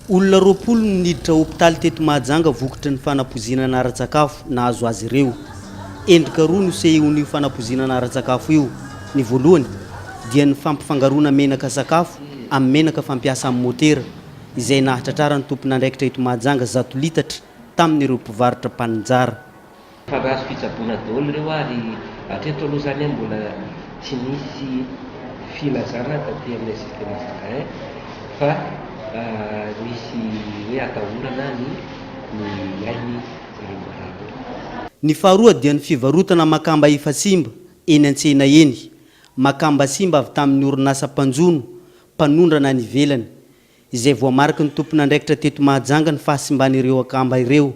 Olona roapolo no niditra hopitaly teto Mahajanga vokotry ny fanapoizinana ara-tsakafo nahazo azy ireo. Endrika roa no sehion'io fanapoizinana ara-tsakafo io. Ny voalohany dia ny fampifangaroana menaka sakafo amin'ny menaka fampiasa amin'ny motera, izay nahatratraran'ny tompon'andraikitra eto Mahajanga zato litatra tamin'ireo mpivarotra mpaninjara. Fa nahazo fitsaboana daholo ireo ary hatreto aloha zany mbola tsy nisy filazana taty amin'ilay système Zakain fa nisy hoe hatahorana ny ny ainy zareo marary ireo. Ny faharoa dia ny fivarotana makamba efa simba eny an-tsena eny, makamba simba avy tamin'ny orinasa mpanjono mpanondrana any ivelany, izay voamariky ny tompon'andraikitra teto Mahajanga ny fahasimban'ireo akamba ireo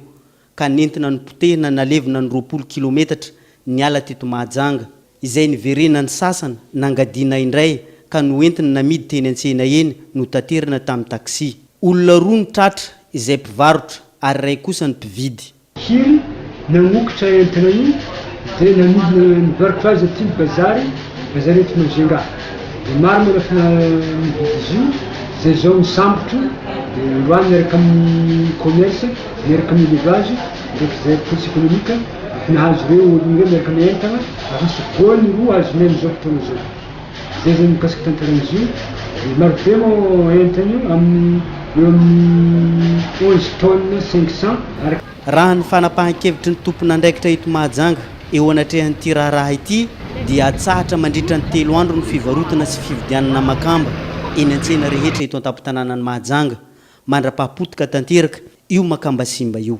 ka nentina nipotehina nalevina ny roapolo kilometatra niala teto Mahajanga, izay niverenan'ny sasany nangadiana indray ka noentiny namidy teny an-tsena eny notaterina tamin'ny taxi. Olona roa no tratra, izay mpivarotra ary iray kosa ny mpividy. Hiry nagnokitra entana io dia namidina ny varotra azy aty bazary, bazary eto Majunga. Dia maro manafina mividy izy io, izay izao misambotra io dia androany miaraka amin'ny commerce. miaraka amin'ny élevage, ireo fizahana politique économique efa nahazo ireo olona ireo miaraka amin'ny entana ary hisy voany roa azony amin'izao fotoana izao. Izay izany mikasika tantaran'izy io, dia marobe moa entana io amin'ny eo amin'ny onze tonnes cinq cents araka. Raha ny fanapahan-kevitry ny tompon'andraikitra eto Mahajanga eo anatrehan'ity raharaha ity dia hatsahatra mandritra ny telo andro ny fivarotana sy fividianana makamba eny an-tsena rehetra eto an-tampon-tanànan'i Mahajanga. Mandrapahapotika tanteraka io makamba simba io.